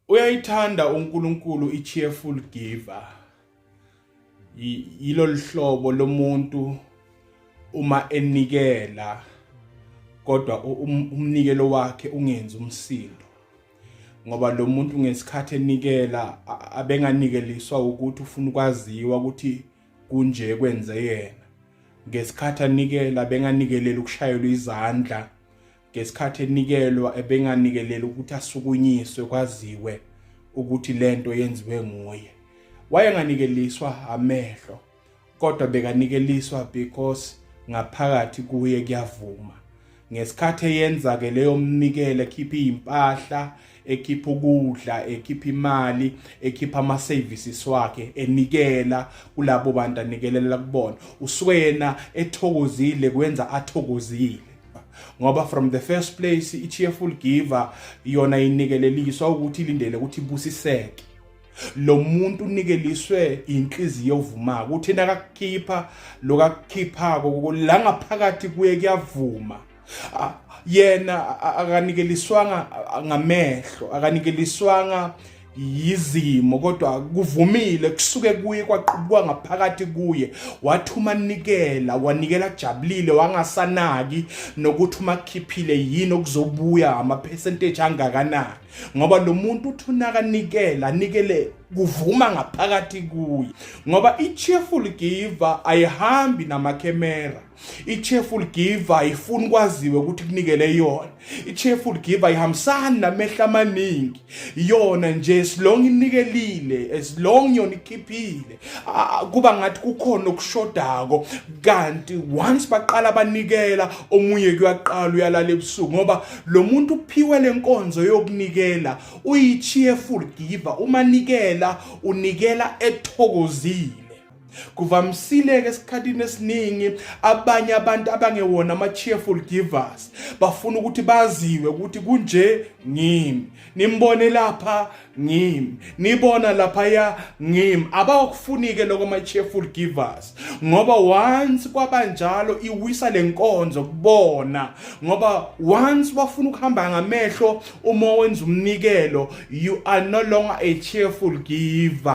Uyayithanda uNkulunkulu i-cheerful giver. Yilo lihlobo lomuntu uma enikela kodwa um, umnikelo wakhe ungenzi umsindo. Ngoba lo muntu ngesikhathi enikela abenganikeliswa ukuthi ufuna ukwaziwa ukuthi kunje kwenze yena. Ngesikhathi anikela benganikelela ukushayelwa izandla ngesikhathi enikelwa ebenganikelela ukuthi asukunyiswe kwaziwe ukuthi lento yenziwe nguye wayenganikeliswa amehlo kodwa bekanikeliswa because ngaphakathi kuye kuyavuma ngesikhathi eyenza ke leyo mnikele khipha impahla ekhipha ukudla ekhipha imali ekhipha ama services wakhe enikela kulabo bantu anikelela kubona uswena ethokozile kwenza athokozile ngoba from the first place i cheerful giver yona inikeleliswa ukuthi ilindele ukuthi ibusiseke lo muntu unikeliswe inhliziyo ovuma ukuthi nakakukhipha lokakukhiphako la ngaphakathi kuye kuyavuma yena akanikeliswanga ngamehlo akanikeliswanga yizimo kodwa kuvumile kusuke kuye kwaqubukwa ngaphakathi kuye wathi uma nikela wanikela jabulile wangasanaki nokuthi uma kukhiphile yini okuzobuya ama-percentage angakanani ngoba lo muntu uthi unakanikela anikele kuvuma ngaphakathi kuye ngoba i-cheerful giver ayihambi namakhemera i-cheerful giver ayifuni kwaziwe ukuthi kunikele yona i-cheerful giver ayihambisani namehla amaningi yona nje as long inikelile as long yona ikhiphile kuba ngathi kukhona okushodako kanti once baqala banikela omunye kuyaqala uyalala ebusuku ngoba lo muntu uphiwe le nkonzo yokunikela uyi-cheerful giver uma nikela unikela ethokozile kuvamisile-ke esikhathini esiningi abanye abantu abangewona ama-cheerful givers bafuna ukuthi baziwe ukuthi kunje ngimi nimbone lapha ngimi nibona laphaya ngimi abawakufuni-ke loko ama-cheerful givers ngoba once kwabanjalo iwisa le nkonzo kubona ngoba once wafuna ukuhamba ngamehlo uma wenza umnikelo you are no longer a cheerful giver